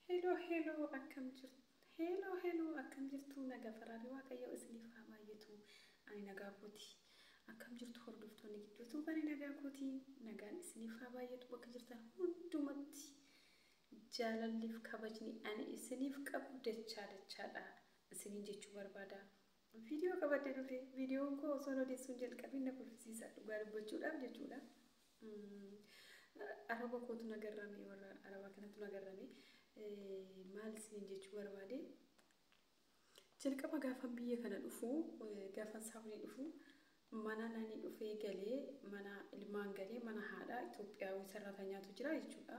Hello hello akkam jirtu Hello hello akkam jirtu naga faraari waaqayyoo isiniif haa baay'atu ani nagaa kooti akkam jirtu hordoftoonni gidduu tuubani nagaa kooti nagaan isiniif haa baay'atu bakka jirtan hundumatti jaalalliif kabajni ani isiniif qabu dachaa dachaadha isiniin jechuu barbaada Video qabadhe dhufe videon koo osoon odeessuun jalqabin na kolfisiisa dhugaa dubbachuudhaaf jechuudha. Araba kootu na garrame warra araba kanatu na garrame maal isiniin jechuu barbaade. Jalqaba gaafan biyya kana dhufu gaafan saawunii dhufu mana nani dhufee galee mana ilmaan galee mana haadha Itoophiyaawii sarratanyaatu jira jechuudha.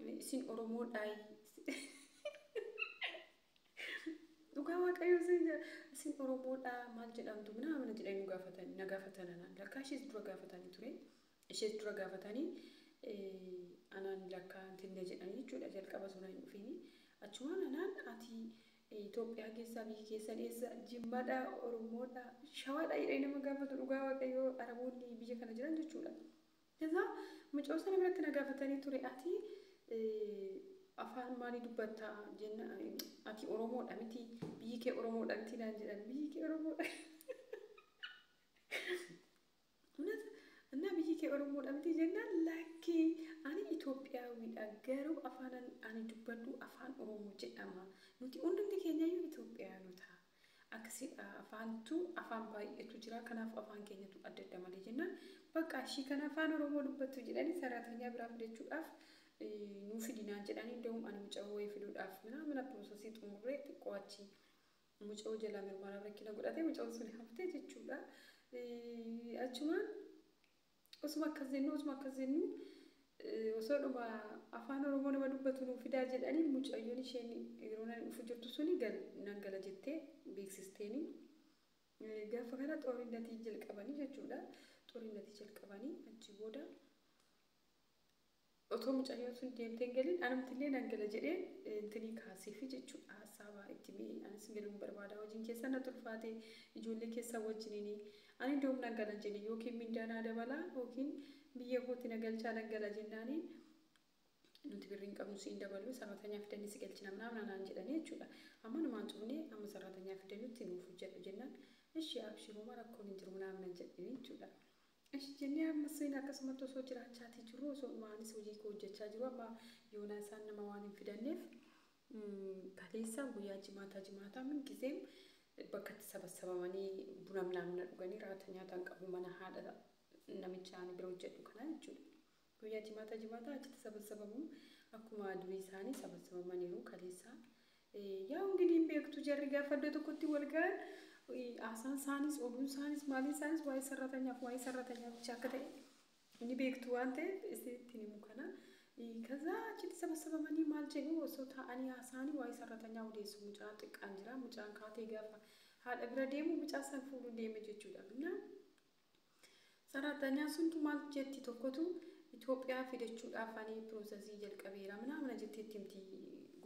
Ani isin Oromoo dhaayi. Dhugaa waaqayyoo isin jedha. Isin Oromoo dhaa maal jedhamtu minaa mana jedhanii nu gaafatan na gaafatan anaan lakkaa ishees dura gaafatanii ture. Ishees dura gaafatanii eh, anaan lakkaa hintinne jedhanii jechuudha jalqaba suna hin dhufiini. Achumaan anaan ati eh, Itoophiyaa keessaa biyyi keessan eessa jimmadhaa Oromoodhaa shawaadhaa jedhanii nama gaafatu dhugaa waaqayyoo Araboonni biyya kana jiran jechuudha. Jazaa mucoo sana biratti na gaafatanii ture ati afaan maalii dubbatta jenna ati oromoodha miti biyyi kee oromoodha miti naan jedhan biyyi kee oromoodha Unas እና biyyi kee oromoodha miti jennaan lakkii ani Itoophiyaawidha garuu afaan ani dubbadhu afaan oromoo jedhama nuti hundumti keenyayyuu Itoophiyaanota Akkasidha afaantu afaan baay'eetu jira kanaaf afaan keenyatu adda adda malee jennaan baqqaa ishii kan afaan oromoo dubbattu jedhanii saraatanyaa biraa fidachuudhaaf nuu fidi naan jedhanii inda'uum ani muca'oo wayii fiduudhaaf minaa mana piroosasii xumurree xiqqoo achi muca'oo jalaa mirmaraa rakkina godhatee muca'oon sun haftee jechuudha achumaan Osuma akkas jennu osuma akkas jennu osoodhuma afaan oromoo nama dubbatu nuu fidaa jedhaniin mucayyoon isheen yeroo nan dhufu jirtu suni gal nan gala jettee beeksisteeni. Gaafa kana xoorinnatii jalqabanii jechuudha. Xoorinnatii jalqabanii achi booda Otoo mucayyoo sun deemtee hin galin anumtillee nan gala jedhee intinii kaaseefi jechuudha hassaabaa itti himee anis galuun barbaadaa hojiin keessan natti ulfaatee ijoollee keessan wajjiniini ani indoom nan galan jenne yookiin mindaa naa dabalaa yookiin biyya kootti na galchaa nan gala jennaani nuti birrii hin qabnu si hin daballu sarratanyaa fidannee si galchina minaamin anaan jedhanii jechuudha amma numaan cufnee amma sarratanyaa fidannutti nuuf hojjedhu jennaan ishii abshiruuma rakkoon hin jiru minaamin nan jedhanii jechuudha Eshi jennee ammas seena akkasumatti osoo jiraachaatii jirru osoo dhuma anis hojii koo hojjechaa jiru amma yoonaa isaan nama waan hin fidanneef kaleessa guyyaa jimaataa jimaataa min gizeem bakkatti sabassabamanii buna minaamina dhuganii raata nyaataan qabu mana haadha namicha ani bira hojjedhu kanaa jechuudha. Guyyaa jimaataa jimaataa achitti sabassabamu akkuma durii isaanii sabassabamaniiru kaleessaa. Yaa ungidii hin beektu jarri gaafa iddoo tokkotti wal ga'an haasaan isaanis oduun isaanis maaliin isaanis waa'ee sarratanyaaf waa'ee sarratanyaa bicha akka ta'e ni beektu waan ta'eef isittiin himu kana. Kazaa achitti sabassabamanii maal jedhu osoo taa'anii haasaanii waa'ee sarratanyaa odeessu mucaan xiqqaan jira mucaan kaatee gaafa haadha bira deemu mucaa san fuudhuun deeme jechuudha. Innaa Saraatanyaan suntu maal jetti tokkotu Itoophiyaa fidachuudhaaf ani piroosasii jalqabeera minaa mana jettee itti himti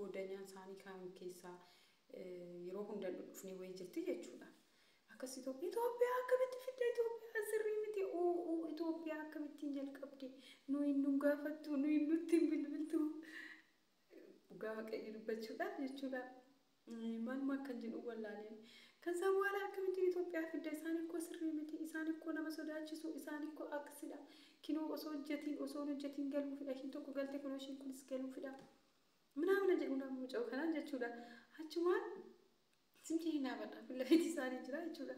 goodanyaan isaanii kaan keessaa yeroo hundan dhufnee wayii jirti jechuudha. Akkas Itoophiyaa Itoophiyaa akkamitti fidda Itoophiyaa sirrii miti uu Itoophiyaa akkamittiin jalqabde nuyi nun gaafattu nuyi nutti hin bilbiltu Dhugaa waaqayyo dubbachuudhaaf jechuudha. Maaluma akkan jedhu wallaaleen. Kan isaan waala akkamitti Itoophiyaa fidda isaan ikkoo sirrii miti isaan ikkoo nama sodaachisu isaan ikkoo akkasidha. Kinoo osoo hojjetiin osoo hin hojjetiin galuufidha ishiin tokko galte kunoo ishiin kunis galuufidha. Minaamina jedhu nama muca'u kanaan jechuudha. Achumaan Simti hin dhaabadha. Kun lafeetti isaanii jira jechuudha.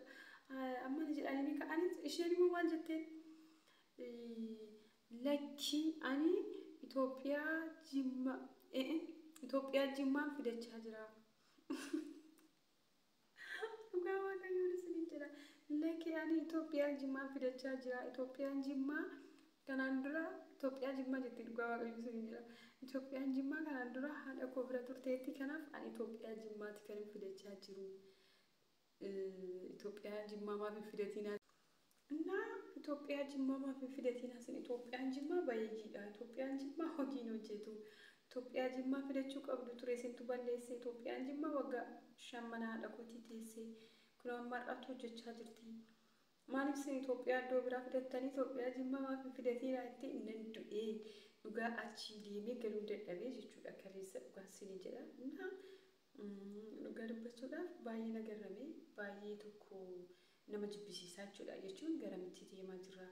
Amma ni jedhanii ni ka'anii isheen immoo maal jetteen? Lakkii ani Itoophiyaa jimma Itoophiyaa jimmaan fidachaa jira. Dhugaa waaqayyoon isiniin jedha. Lakkii ani Itoophiyaa jimmaan fidachaa jira. Itoophiyaan jimmaa Kanaan dura Itoophiyaa Jimmaa jetti dhugaa waaqayyoo sinin jedha. Itoophiyaan Jimmaa kanaan dura haadha koo bira turteetti kanaaf ani Itoophiyaa Jimmaatti kan hin fidachaa jiru. Itoophiyaa Jimmaa maaf hin fidatinaa? Innaa Itoophiyaa Jimmaa maaf hin fidatinaa sin Itoophiyaan Jimmaa bayeeyyiidha. Itoophiyaan Jimmaa hojii hin hojjetu. Itoophiyaa Jimmaa fidachuu qabdu ture sintu balleesse. Itoophiyaan Jimmaa waggaa shan mana haadha kootii teessee kunoo amma har'aatti hojjechaa jirti. Maalif sin itophiyaa iddoo biraa fidattanii itophiyaa jimmaa maaf hin fidatiin raa itti nan du'ee dhugaa achii deemee galuun dadhabee jechuudha kaleessa dhugaan sinii jedha na dhugaa dubbachuudhaaf baay'ee na garramee baay'ee tokko nama jibbisiisaa jechuudha jechuun garamitti deemaa jira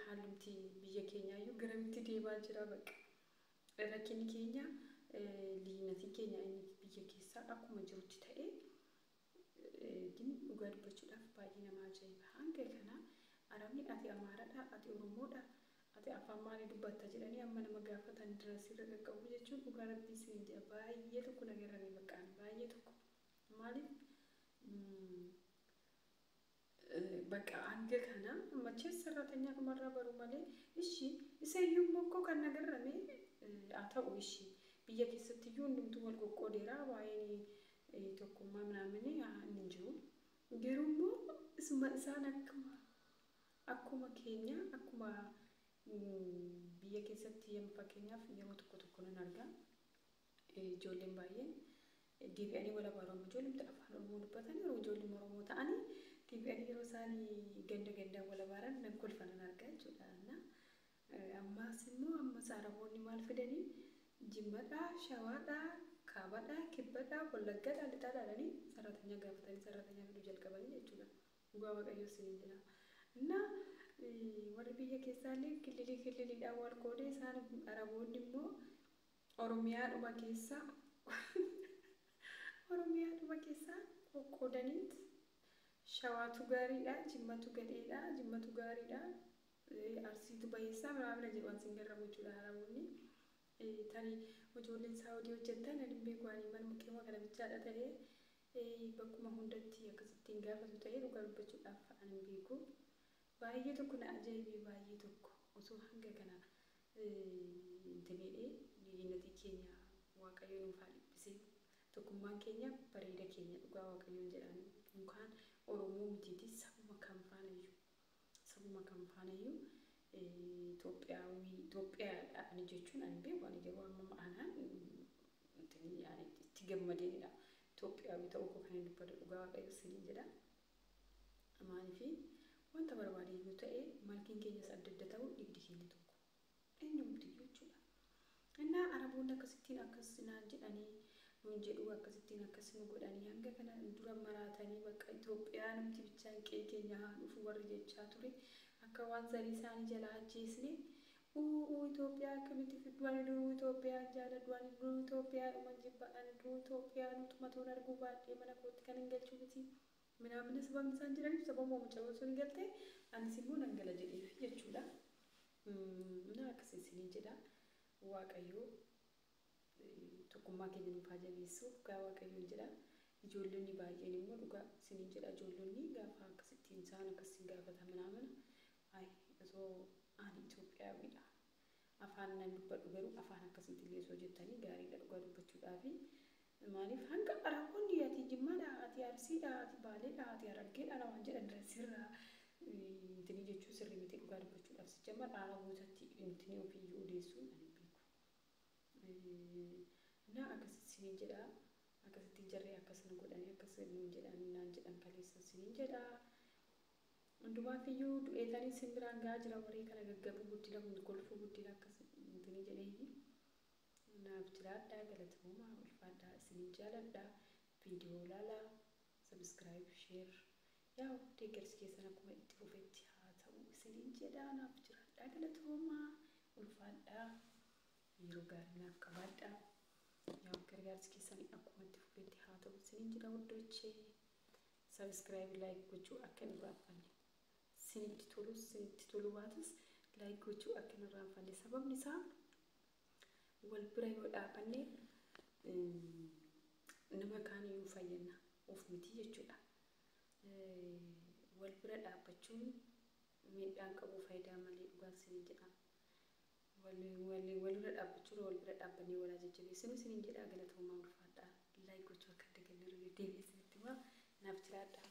haalumti biyya keenyaayyuu garamitti deemaa jira bakka rakkinni keenya liinatiin keenya inni biyya keessaa akkuma jirutti ta'ee Gin dhugaa dubbachuudhaaf baay'ee nama ajaa'iba. Hanga kana Aramee ati Amaaradha, ati Oromoodha, ati afaan maalii dubbatta jedhanii amma nama gaafatan dura sirra qaqqabuu jechuun dhugaa rabbii isiniin jedha baay'ee tokko na garrame baqqaan baay'ee tokko. Maaliif Baqa hanga kana machees sarraatanya dhumarraa baru malee ishi isa iyyuu immoo koo kan na garrame haa ta'u ishi biyya keessatti iyyuu hundumtuu wal qoqqoodeera waa'een tokkummaa minaamin inni hin jiru garuu immoo isuma isaan akkuma akkuma keenya akkuma biyya keessatti yem fakkeenyaaf yeroo tokko tokko nan arga Ijoolleen baay'een deebi'anii wal abaaru. Amma ijoollumti afaan Oromoo dubbatan yeroo ijoolluma Oromoo ta'anii deebi'anii yeroo isaan ganda gandaan wal abaaran nan kolfa nan arga jechuudha. Na ammaas immoo ammas Araboonni maal fidanii jimmadhaa, shawaadhaa, kaabadhaa, kibbadhaa, wallaggadhaa, lixaadhaa jedhanii sarratanyaa gaafatanii sarratanyaa fiduu jalqabanii jechuudha. Dhugaa Waaqayyoo isiniin jedha. Na warri biyya keessaallee killilii killiliidhaan wal qoodee isaan Araboonni immoo Oromiyaadhuma keessa Oromiyaadhuma keessa qoqqoodaniit Shawaatu gaariidha, Jimmatu gadheedha, Jimmatu gaariidha, Arsiitu bayeessaa miraamira jedhu an sin garramu jechuudha Araboonni. Tani ijoolleen Saawudii hojjettan ani hin beeku ani manuma qe'uma kana bichaadha ta'ee bakkuma hundatti akkasittiin gaafatu ta'ee dhugaa dubbachuudhaaf an hin beeku. Baayee tokko na ajaibee baayee tokko osoo hanga kana hin taneedhee liyyinatii keenya waaqayoo nuuf haa dhipisee tokkummaan keenya bareeda keenya dhugaa waaqayoon jedhaan mukaan oromoo mitiiti sabuma kam faanayyu sabuma kam faanayyu itoophiyaawii itoophiyaadha ani jechuun ani hin beeku ani garuu amma anaan itti gammadeenidha itoophiyaawii ta'uu koo kanan dubbadhu dhugaa waaqayoo siniin jedha dha. Maaliifi? Wanta barbaade iyyuu ta'e, malkiin keenyas adda adda ta'u, dhiigdi keenya tokko. Eenyumti iyyuu jechuu dha. Ennaa Araboonni akkasittiin akkas naan jedhanii, nuun jedhuu, akkasittiin akkas nu godhanii, hanga kana nu dura maraatanii, bakka Itoophiyaanumti bichaan qe'ee keenya haa dhufu warri jechaa ture, akka waan zarii isaanii jalaa ajjeesne, Uuùuu Ethiopia akkamitti fiddu ani duruu Ethiopian jaaladhu ani duruu Ethiopia dhuman jibba ani duruu Ethiopia nu tumatoon arguu baadhee mana kootti kanin galchu miti minaamina sababni isaan jedhaniif sababuma mucayoon suni galte anis immoo nan gala jedheefi jechuudha na akkasi isiniin jedha waaqayyoo tokkummaa keenya nuuf haa jabeessu dhugaa waaqayyoon jedha ijoollonni baay'een immoo dhugaa isiniin jedha ijoollonni gaafa akkasittiin isaan akkas isin gaafata minaamina Ayi osoo ani Itoophiyaawidha afaan nan dubbadhu garuu afaan akkasiitillee osoo jettanii gaariidha dhugaa dubbachuudhaafi maaliif hanga Araboonni ati Jimmaadha ati Arsiidha ati Baaleedha ati Harargeedha namaan jedhan irra sirraa intinii jechuun sirrii miti dhugaa dubbachuudhaaf sijjamar Arabootatti intinii ofiiyyuu odeessuun ani hin beeku na akkasitti siniin jedha akkasittiin jarri akkas nu godhanii akkas nuun jedhan naan jedhan kaleessan siniin jedha Hundumaaffiyyuu du'eetanii sin biraan ga'aa jira waree kana gaggabuu guddina kun kolfuu guddina akkas hintinii jedheeyyi naaf jiraadhaa galatoomaa ulfaadhaa isinin jaaladha viidiyoo laalaa subscribe share yaa'u deeggarsi keessan akkuma itti fufetti haa ta'u isinin jedhaa naaf jiraadhaa galatoomaa ulfaadhaa yeroo gaarii naaf qabaadhaa yaa'u gargaarsi keessan akkuma itti fufetti haa ta'u isinin jedha wuddochee Subscribe like gochuu akka hin irraanfanne. Sinitti tolus sinitti toluu baatus like gochuu akka hin irraanfanne. Sababni isaa wal bira yoo dhaabanne nama kaan iyyuu fayyadna of miti jechuudha. Wal bira dhaabbachuun miidhaan qabu faayidaa malee dhugaan siniin jedha. walirra dhaabbachuurra wal bira dhaabbannee wal haa jajjabeessinu isiniin jedha galatoomaa ulfaadhaa like gochuu akka hin dagannellee deebi'ee isinitti himaa naaf jiraadhaa.